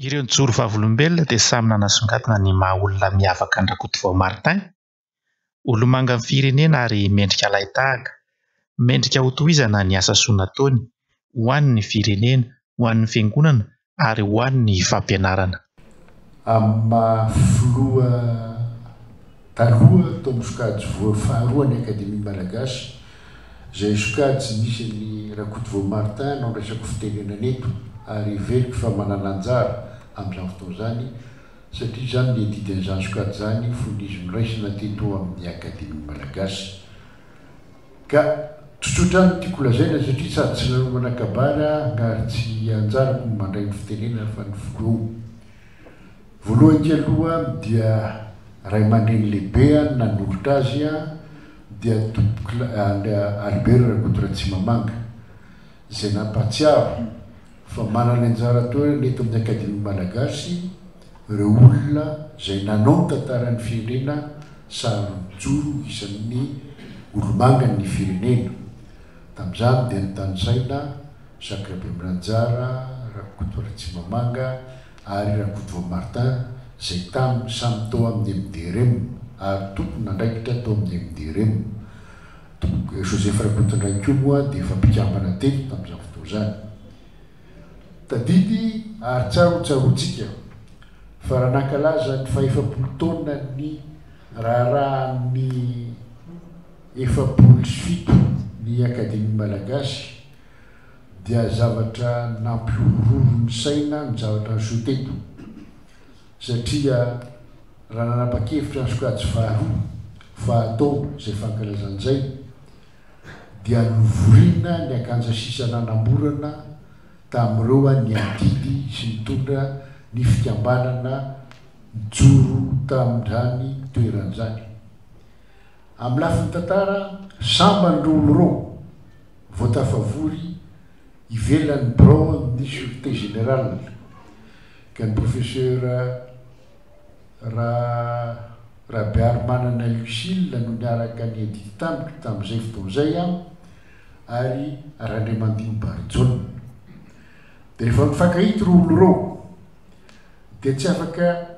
Ireo nijoro vavolombelona dia samy nanasongadina ny maha olona miavaka an-dRakotovao Martin, olomangan'ny firenena ary mendrika lahitahaka, mendrika ho tohizana ny asa soa nataony, ho an'ny firenena, ho an'ny fiangonana ary ho an'ny fampianarana. Amin'ny maha filoha. Taloha, tao amin'ny sokajy voa faharoa an'ny Akademia Malagasy, izay sokajy nisy an'i Rakotovao Martin no andraisako fitenenana eto ary heveriko fa manana anjara amin'izany fotoana izany satria izaho no niadidy an'izany sokajy izany fony izy noraisina teto amin'ny Akademia Malagasy ka tsotsotra ihany no tiako holazaina satria sady tsy nanomana kabary aho ary tsy anjarako ny mandray ny fitenenana fa ny filoha Voalohany aloha dia ray aman-dreny lehibe no nanolotra azy dia Tompokolahy Albert Rakotoratsimamanga izay nampahatsiaro fa manana anjara toerana eto amin'ny Akademia Malagasy ireo olona izay nanao ny tantaran'ny firenena sahary nijoro ho isan'ny olomangan'ny firenena. Tamin'izany dia notanisaina Sakirabemranjara Rakotoratsimamanga, ary Rakotovao Martha izay taminy samy tao amin'ny MDRM ary tompon'andraikitra tao amin'ny MDRM. Toko Joseph Rakotondrainy koa moa dia efa mpikambana teto tamin'izany fotoana izany. Tadidy ary tsara ho tsaroantsika fa raha nankalaza ny fahefapolo taonan'ny raharahan'ny efapolo sy fito ny Akademia Malagasy Dia zavatra nampihorohoro ny saina ny zavatra niseho teto, satria raha nanapa-kevitra ny sokajy faharoa fa hatao izay fankalazana izay, dia novoriana ny akanja sisa nanamorana tamin'ireo niadidy sy nitondra ny fikambanana nijoro tamin'izany toerana izany. Amin'ny lafiny tantara, sambany ireo oloroa vao tafavory ivelan'ny biraon'ny Sûreté Générale ka ny Profesera Ra Rabearimanana Lucile no niaraka niadidy tamiko tamin'izay fotoana izay ary Randriamandimby Barijaona. Dia rehefa mifankahita ireo oloroa dia tsy afaka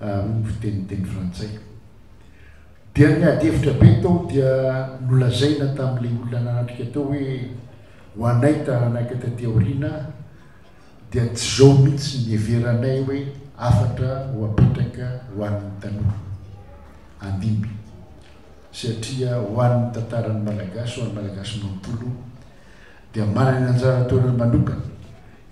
ary ny fiteny teny frantsay. Dia ny adihevitra be tao dia nolazaina tamin'ilay olona nanatrika tao hoe ho anay taranaka taty aoriana dia tsy izao mihitsy ny niheveranay hoe hafatra ho apetraka ho an'ny tanora handimby satria ho an'ny tantaran'ny Malagasy, ho an'ny Malagasy manontolo dia manana ny anjara toerany manokana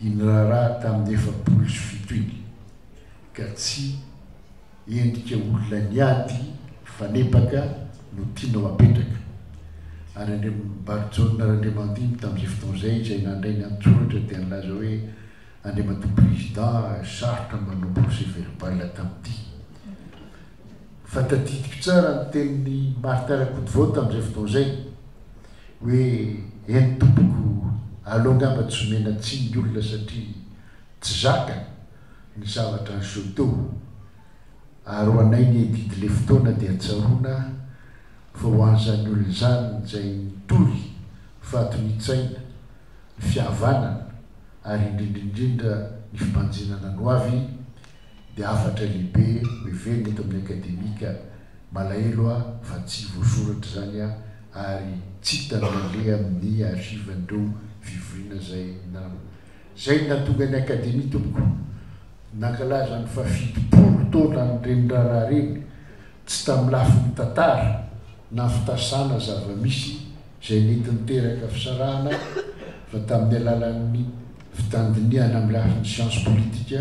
iny raharaha tamin'ny efapolo sy fito iny. ka tsy endrika olona niady hifanebaka no tianao apetraka, ary Andriambarijaona Randriamandimby tamin'izay fotoana izay izay nandray ny an-tsoratra dia nilaza hoe Andriamatoa Président sarotra ny manao procès verbal tamin'ity fa tadidiko tsara ny tenin'i Martin Rakotovao tamin'izay fotoana izay hoe eny tompoko aleo angamba tsy omena tsiny ny olona satria tsy zaka ny zavatra niseho teo ary ho anay ny adidy le fotoana dia tsaroana fa ho an'izany olona izany izay nitory fahatonian-tsaina, ny fihavanana ary indrindra indrindra ny fibanjinana ny ho avy dia hafatra lehibe ho heverina eto amin'ny Akademika, malahelo aho fa tsy voasoratra izany ary tsy hita naleha amin'ny archive-n'ireo fivoriana izay. Izay no nahatonga ny Akademia tompoko nankalaza ny faha-fitopolo taonan'ireny raharaha ireny, tsy tamin'ny lafiny tantara na fitasana zava-misy izay nety niteraka fisarahana fa tamin'ny alalan'ny fitandinihana amin'ny lafiny siansa politika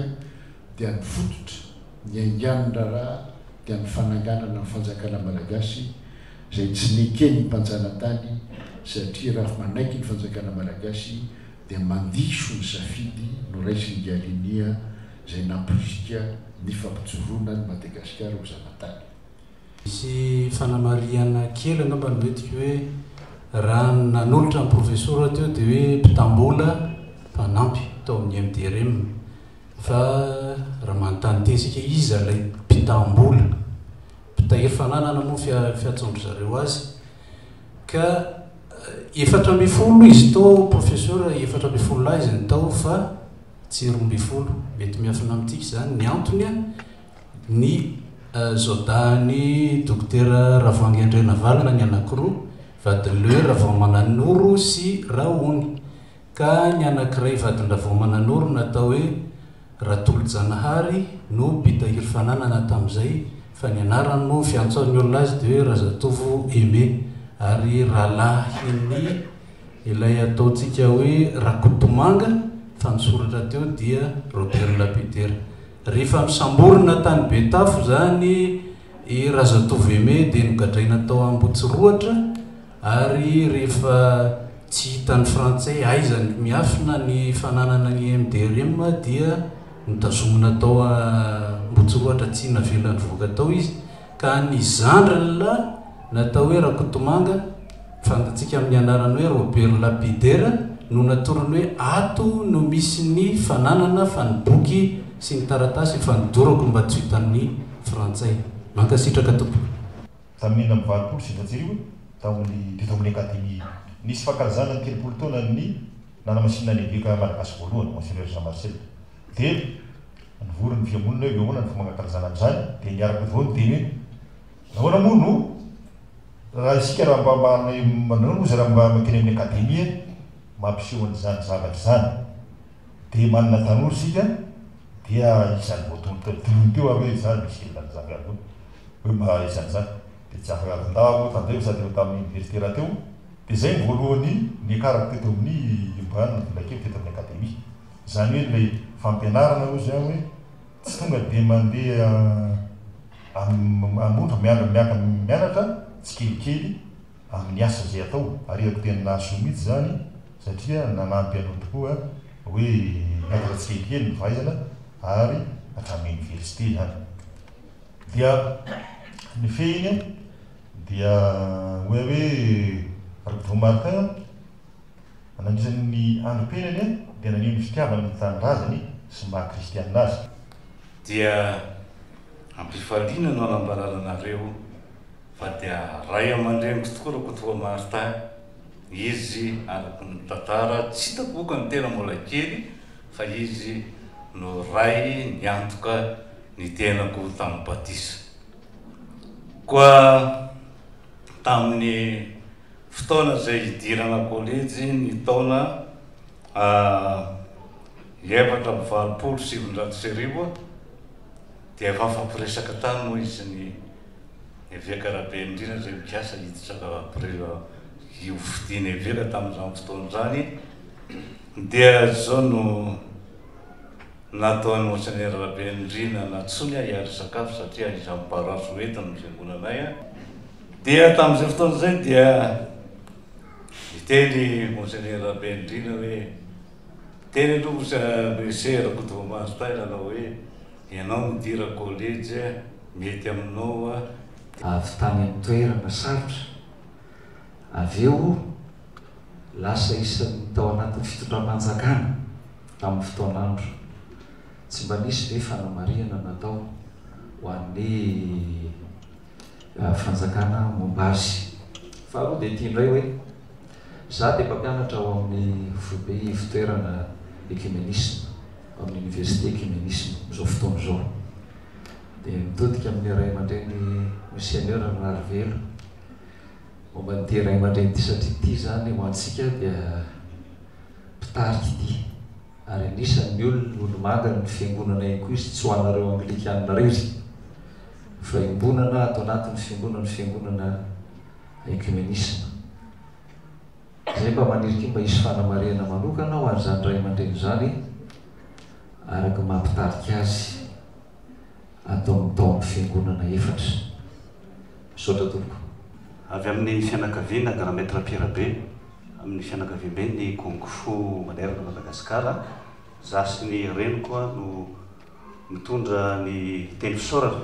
dia ny fototra niaingan'ny raharaha dia ny fananganana ny Fanjakana Malagasy izay tsy neken'ny mpanjanatany satria raha manaiky ny Fanjakana Malagasy dia mandiso ny safidy noraisin'i Galinia izay namporisika ny fampijoroana an'i Madagasikara ho zanatany. Misy fanamarihana kely angamba no entiko hoe raha ny nanolotra ny profesora teo dia hoe mpitam-bola mpanampy tao amin'ny MDRM fa raha manontany tena isika iza ilay mpitam-bola? Mpitahiry fananana moa ny fiantsoan-dry zareo azy ka. Efatra ambin'ny folo izy tao professeur efatra ambin'ny folo lahy izy ny tao fa tsy roa ambin'ny folo mety miafina amintsika izany ny antony a ny euh, zodahany dokotera ravoangy andrianavalona ny anakiroa vadin'le ravaomananoro sy rahony ka ny anakiray vadin-dravaomananoro natao hoe Ratolojanahary no mpitahiry fananana tamin'izay fa ny anarany moa fiantsoan'ny olona azy dia hoe Razatovo Aimé ary rahalahin'ny ilay ataontsika hoe Rakotomanga fa ny soratra teo dia Roberla Petera. Rehefa nosamborina tany Betafo izany i Razatovo Aimé dia nogadraina tao Ambohitsirohatra. Ary rehefa tsy hitan'ny frantsay aiza ny miafina ny fananana ny MDRM dia notazomina tao Ambohitsorohatra tsy navela nivoaka tao izy ka ny zandrin'la natao hoe Rakotomanga, fantatsika amin'ny anarany hoe Robert Lapidaire, no natorony hoe ato no misy ny fananana fa ny boky sy ny taratasy efa nodorako mba tsy ho hitan'ny frantsay. Mankasitraka tompoko. Tamin'ny enina amby valopolo sy efatsy arivo, tao amin'ny teto amin'ny Akademia, nisy fankalazana ny telopolo taonan'ny nanamasinina ny Eveka malagasy voalohany, Monseigneur Jean Marcel. Dia nivory ny fihamonina eo, avy eo ahoana ny fomba hankalazana an'izany? Dia niaraka avy eo ny teny hoe, Ahoana moa no, raha isika raha mba manome, ahoana moa izay raha mba makeny amin'ny Akademia mampiseho an'izany zavatra izany? Dia manana tanora isika dia isan'ny voatondro teo dolomy teo aho hoe izaho misy kely nanazava ihany koa hoe mba izany izany dia tsy afaka tandao aho tandremo sady efa tamin'ny oniversite rahateo dia izay no voalohany niakarako teto amin'ny Imran na Velakely teto amin'ny Akademia izany hoe ilay fampianarana hoy izaho hoe tsy tonga dia mandeha amin'ny ohatra mianatra tsikelikely ary ny asa izay atao. Arehako tena nahasoa mihitsy izany satria nanampy anao tokoa hoe niakatra tsikelikely ny fahaizana ary hatramin'ny oniversite izany dia ny fehiny dia hoe hoe Rakotovao Martin a, nandritra ny andro penany dia naneho ny fitiavany ny tanindrazany sy ny maha kristianina azy. Dia ampifaliana no anambarana anareo. Fa dia ray aman-dreniko tokoa Rakotoamarta izy araka ny tantara, tsy hitako moa ka ny tena mbola kely fa izy no ray niantoka ny tenako tamin'ny batisa. Koa tamin'ny fotoana izay hidirana kolejy ny taona efatra amby valopolo sy sivinjato sy arivo dia efa nifampiresaka tany moa izy sy ny Eveka Rabendrina izay nikasa hiditra tao April io fidiana eveka tamin'izany fotoana izany dia izao no nataon'i Monseigneur Rabendrina nantsoiny ahy hiady sakafo satria ahiza ny paroasy ho eto ny fiangonana ahy aho dia tamin'izay fotoana izay dia niteny Monseigneur Rabendrina hoe Teny an-tongotra Muse Rakotovomartin nanao hoe, Ianao midira college eh, mety aminao aho dia. Avy tany amin'ny toerana sarotra. Avy eo lasa isan'ny tao anatin'ny fitondram-panjakana tamin'ny fotoan'andro. Tsy mba nisy ve fanamarihana natao ho an'ny. fanjakana momba azy. Faharoa dia ity indray hoe, Izaho dia mpampianatra ao amin'ny foibe ivotoerana Ekimenisma ao amin'ny Oniversite Ekimenisma amin'izao fotoana izao. Dia mitodika amin'ny ray aman-dreny Misionera Raharivelo momba an'ity ray aman-dreny ity satria ity izany ho antsika dia mpitarika ity ary anisan'ny olona olomanga ny fiangonana ihany koa izy tsy ho anareo Anglikana irery. Fiombonana ato anatin'ny fiombonan'ny Fiangonana Ekimenisma. Izay mba maniry koa mba hisy fanamarihana manokana ho an'izany ray aman-dreny izany araka ny maha mpitarika azy ato amin'ny taon'ny Fiangonana efatra. Misaotra tompoko. Avy amin'ny fianakaviana Grand Maître Pierre Be amin'ny fianakaviamben'ny Kung Fu manerana Madagasikara, za sy ny reniko no. Mitondra ny teny fisaorana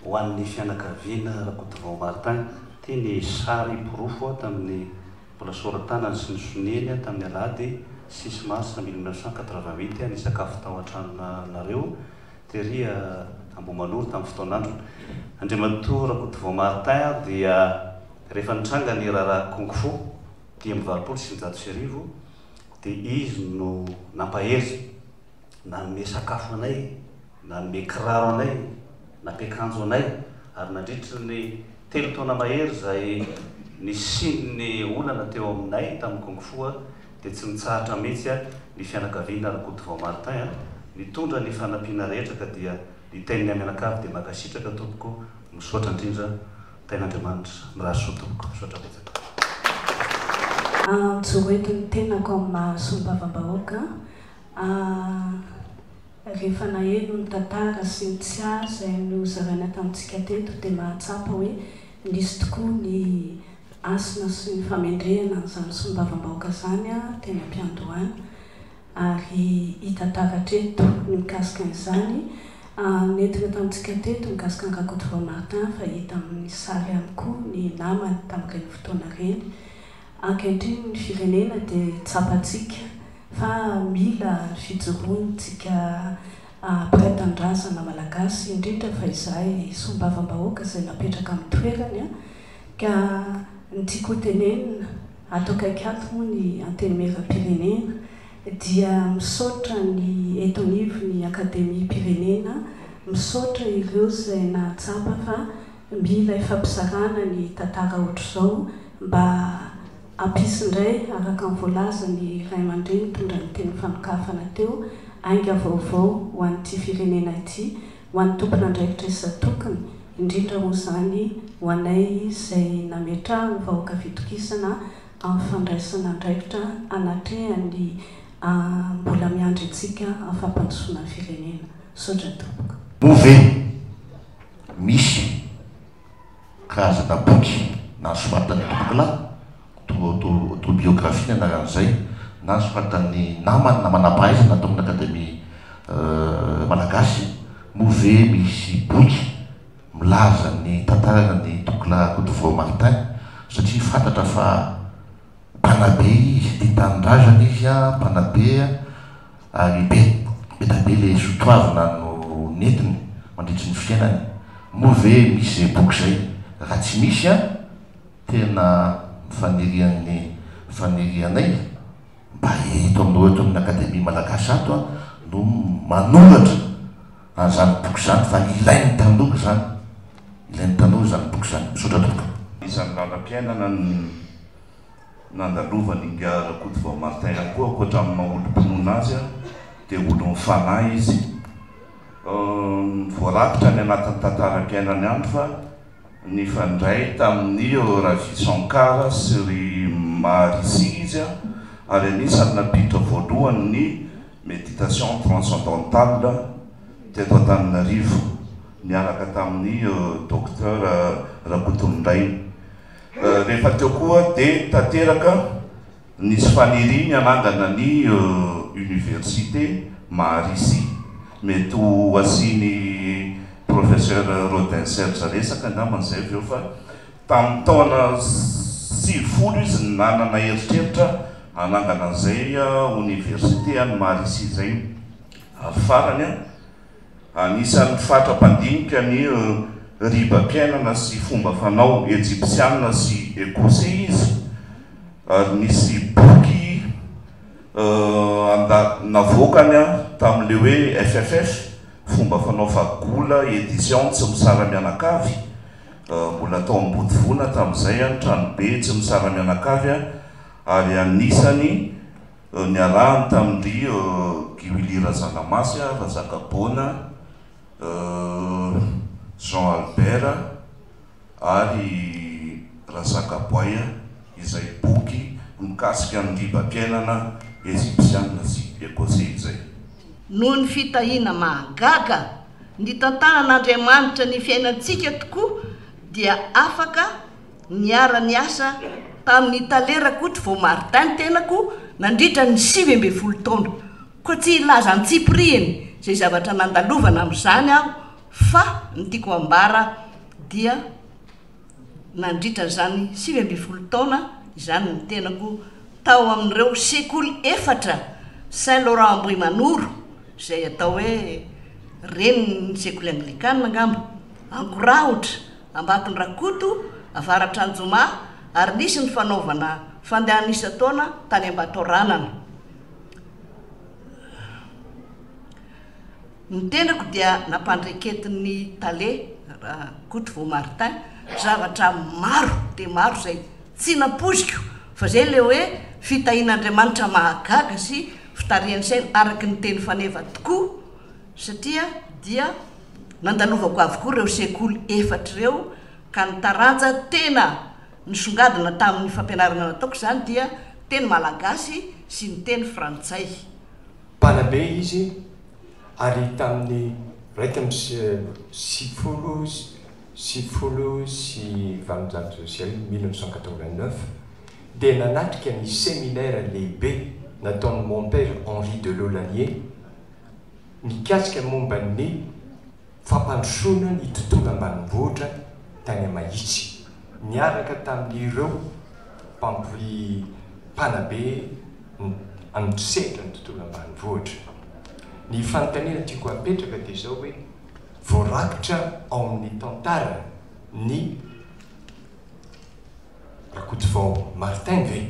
ho an'ny fianakaviana Rakotovao Martin. Ity ny sary porofo tamin'ny mbola sora-tanany sy ny soniany tamin'ny alahady six mars mille neuf cent quatre-vingt-huit nisakafo tao an-tranonareo tery Ambohimanoro tamin'ny fotoan'androny. Andriamatoa Rakotovao Martin dia rehefa nitranga ny raharaha Kung Fu dimy amby valopolo sy sivinjato sy arivo dia izy no nampahery. Nanome sakafo anay, nanome kiraro anay, nampiakanjo anay, ary nandritra ny telo taona mahery izay nisian'ny olana teo aminay tamin'ny Kung Fu dia tsy nitsahatra mihitsy ny fianakaviana Rakotovao Martin nitondra ny fanampiana rehetra ka dia niteny ny mianakavy dia mankasitraka tompoko misaotra indrindra tain'Andriamanitra mirary soa tompoko misaotra betsaka. Antso hoentin'ny tenako amin'ny maha Solombavambahoaka Aah! Rehefa naheno ny tantara sy ny tsiahy izay nozaraina tamintsika teto dia mahatsapa hoe nisy tokoa ny hasina sy ny famendrehana an'izany solombavambahoaka izany teny am-piandohana. Ary hita taratra eto ny mikasika an'izany nentina tamintsika teto mikasika an'i Rakotovao Martin fa hita amin'ny sary ihany koa ny namany tamin'ireny fotoana ireny. Ankehitriny ny firenena dia tsapantsika fa mila ny fijoroantsika mpiray tanindrazana malagasy indrindra fa izahay solombavambahoaka izay napetraka amin'ny toerany ka ny tiako ho tenenina ato akaiky ato moa ny antenimieram-pirenena dia misaotra ny eto anivon'ny akademiam-pirenena misaotra ireo izay nahatsapa fa Mila ifampizarana ny tantara ohatr'izao mba hampisy indray araka ny voalazan'ny ray aman-dreny nitondra ny tenim-panokafana teo, ainga vaovao ho an'ity firenena ity, ho an'ny tompon'andraikitra isan-tokony, indrindra moa izany ho anay izay nametrahan'ny vahoaka fitokisana amin'ny fandraisana andraikitra anatrehan'ny mbola miandry antsika amin'ny fampandrosoana ny firenena. Misaotra tompoko. Bove. Misy karazana boky nasoratan'ny tompokolahy, autobiographie ny anaran'izay, na soratan'ny namany na manam-pahaizana tao amin'ny Akademia Malagasy. Moa ve misy boky milaza ny tantarana ny tompokolahy Rakotovao Martin? Satria fantatra fa. Mpanabe izy tia tanindrazana izy a, mpanabe a, ary be dia be ilay sotoavina no nentiny mandritry ny fiainany. Moa ve misy izay boky izay? Raha tsy misy a, tena fanirian'ny fanirianay mba eto aminao eto amin'ny Akademia Malagasy ato a no manoratra. Ary izany boky izany fa ilain'ny tanora izany, ilain'ny tanora izany boky izany. Misaotra tompoko. Isan'ny lalam-piainana nandalovan' Ingahy Rakotovao Martin ihany koa, ankoatra amin'ny maha olom-pinoana azy dia olon'ny fanahy izy. Voarakitra any anatin'ny tantaram-piainany ihany fa nifandray tamin'i Ravi Shankar sy ry Maharishi izy ary anisan'ny nampiditra voalohany ny Méditation transcendentale teto Antananarivo niaraka tamin'ny Docteur Rakotonindrainy. Rehefa teo koa dia tanteraka nisy faniriany hanangana ny Université Maharisi. Mety ho asian'i Professeur Rodin Serge resaka angambany izay avy eo fa Tamin'ny taona sivifolo izy no nanana eritreritra hanangana an'izay oniversite any Marisy izay. Ary farany, anisan'ny fatra mpandinika ny ribam-piainana sy fomba fanao ejipsianina sy ekosey izy, ary nisy boky navoakany tamin'ilay hoe FFF, Fomba Fanao Fagola, Editions Tsy Misara-mianakavy, Mbola tao Ambodivoana tamin'izay ny tranobe tsy misara-mianakavy ary anisany niarahany tamin-dry Giwili Razanamasy, Razakaboana, Jean Albert ary Razakaboay izay boky mikasika ny ribam-piainana Ezipsiana sy Ecossais izay. Noho ny fitahiana mahagaga Ny tantaran'Andriamanitra ny fiainantsika tokoa dia afaka niara-niasa tamin'ny talera Kotry vao Martin ny tenako nandritra ny sivy ambin'ny folo taona, koa tsy hilaza antsipirihiny izay zavatra nandalovana amin'izany aho fa ny tiako ambara dia. Nandritra izany sivy ambin'ny folo taona izany ny tenako tao amin'ireo sekoly efatra Saint Laurent Ambohimanoro, izay atao hoe renin'ny sekoly anglikana angamba, Ankorahotra, Ambatondrakoto, Avaratr'Anjoma ary nisy ny fanaovana fandehana isan-taona tany Ambatoaranana. Ny tenako dia nampandreketin'ny tale Rakotovao Martin zavatra maro dia maro izay tsy nampoiziko fa izay ilay hoe fitahian'Andriamanitra mahagaga sy fitarihan'ny saina araka ny teny faneva tokoa satria dia nandalovako avokoa ireo sekoly efatra ireo ka ny taranja tena nisongadina tamin'ny fampianarana nataoko izany dia teny malagasy sy ny teny frantsay. Mpanabe izy ary tamin'ny iraika amby sivifolo sy sivifolo sy valonjato sy arivo, mille neuf cent quatre-vingt-neuf, dia nanatrika ny seminaire lehibe nataon'i Mon Père Henri de Laulanier mikasika momba ny fampandrosoana ny tontolo ambanimbohitra tany Mahitsy, niaraka tamin'ireo mpampri, mpanabe ny amin'ny sehatra ny tontolo ambanivohitra. Ny fanontaniana tiako apetraka dia izao hoe, voarakitra ao amin'ny tantara ny. Rakotovao Martin ve?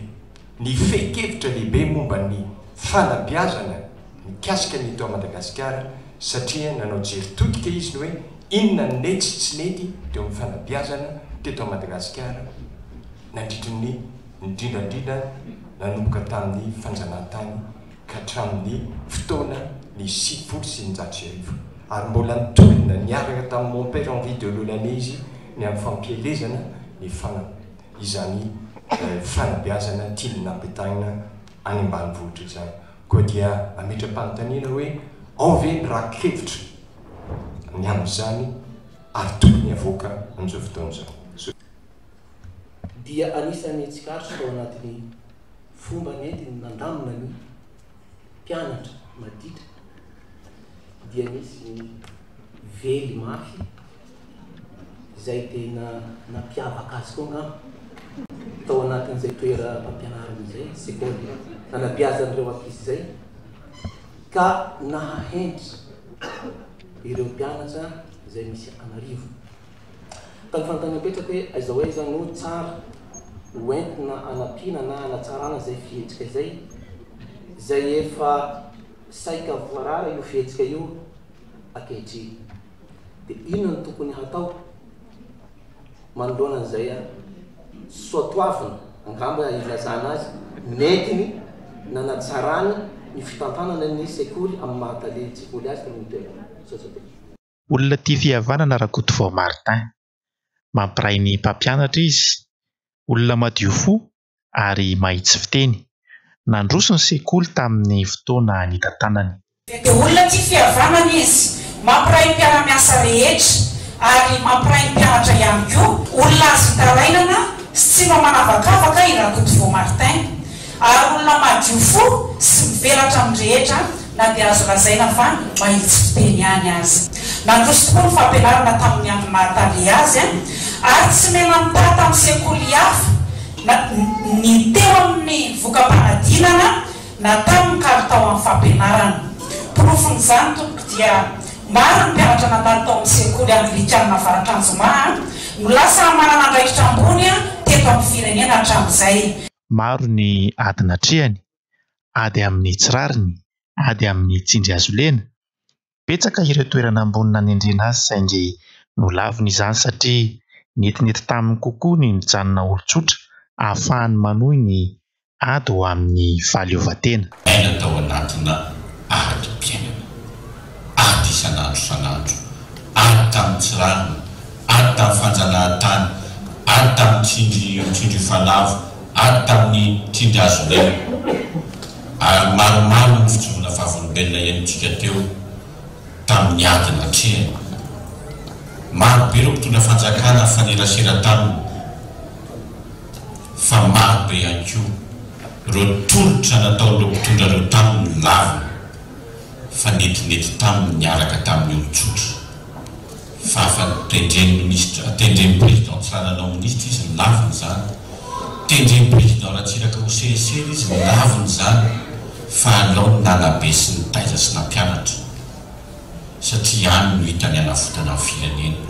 Ny fehin-kevitra lehibe momba ny fanabeazana mikasika ny eto Madagasikara satria nanao jery todika izy ny hoe inona no nety sy tsy nety teo amin'ny fanabeazana teto Madagasikara nandritry ny indrindra indrindra nanomboka tamin'ny fanjanahantany ka hatramin'ny fotoana ny sivifolo sy eninjato sy arivo, ary mbola nitolona niaraka tamin'i Mon Père Henri de Launanay izy ny amin'ny fampielezana ny fana izany fanabeazana tiany nampitaina any ambanivohitra izany. Koa dia ametra-panontaniana hoe, ao ve ny raki-kevitra ny amin'izany ary tokony havoaka amin'izao fotoana izao? dia anisan'ny tsikaritra tao anatin'ny fomba nentiny nandamina ny mpianatra maditra dia nisy ny vely mafy izay tena nampiavaka azy koa angamba tao anatin'izay toeram-pampianarana izay sekoly anabeazan'ireo ankizy izay ka nahahenitra ireo mpianatra izay misy an'arivony Ka ny fanontaniana mipetraka hoe aiza ho aiza no tsara ho entina hanampiana na hanatsarana izay fihetsika izay, izay efa saika voarara io fihetsika io ankehitriny? Dia inona no tokony hatao manoloana an'izay soatoavina, angamba ilazana azy, nentiny nanatsarany ny fitantanana ny sekoly amin'ny maha tale an-tsekoly azy teo amin'ny toerana? Olona tia fihavanana Rakotovao Martin. Mampiray ny mpampianatra izy. Olona madio fo ary mahitsy fiteny. Nandroso ny sekoly tamin'ny fotoana nitantanany. Dia olona tia fihavanana izy. Mampiray ny mpiara-miasa rehetra ary mampiray ny mpianatra ihany koa. Olona azo itarainana sy tsy mba manavakavaka i Rakotovao Martin. Ary olona madio fo sy mivelatra amin'ny rehetra na dia azo lazaina fa mahitsy fiteny ihany aza. Nandroso tokoa ny fampianarana tamin'ny andro naha-tale azy ary tsy mena-mitaha tamin'ny sekoly hafa na ny teo amin'ny voka-panadinana na tamin'ny kalitao amin'ny fampianarana. Porofon'izany, tompoko, dia maro ny mpianatra nandalo tao amin'ny sekoly anglikana Avaratr'Anjomaha no lasa manana andraikitra ambony teto amin'ny firenena hatramin'izay. Maro ny ady natrehany, ady amin'ny tsy rariny, ady amin'ny tsindry azo lena. Betsaka ireo toerana ambony nanendrena azy saingy nolaviny izany satria netinety taminy kokoa ny mijanona olon-tsotra ahafahany manohy ny ady ho amin'ny fahaleovantena. Aina tao anatina adim-piainana, ady isan'andro isan'andro, ady tamin'ny tsy rariny, ady tamin'ny fanjanahantany, ady tamin'ny tsindry tsindry efa lavo, ady tamin'ny tsindry azo lena. Ary maromaro ny fijoroana vavolombelona henontsika teo tamin'ny ady natrehany. Maro be ireo mpitondra fanjakana nifanerasera taminy, fa maro be ihany koa. Ireo tolotra nataon'ireo mpitondra ireo taminy no lavina fa netinety taminy niaraka tamin'ny olon-tsotra. Fa fa tendren'ny minisitra, tendren'ny président Tsiranana ho minisitra izy no lavina izany. Tendren'ny président Ratsiraka ho CSE izy no lavina izany fa alao ny nanabe sy nitaiza sy nampianatra. satria any no hitany hanavotana ny firenena.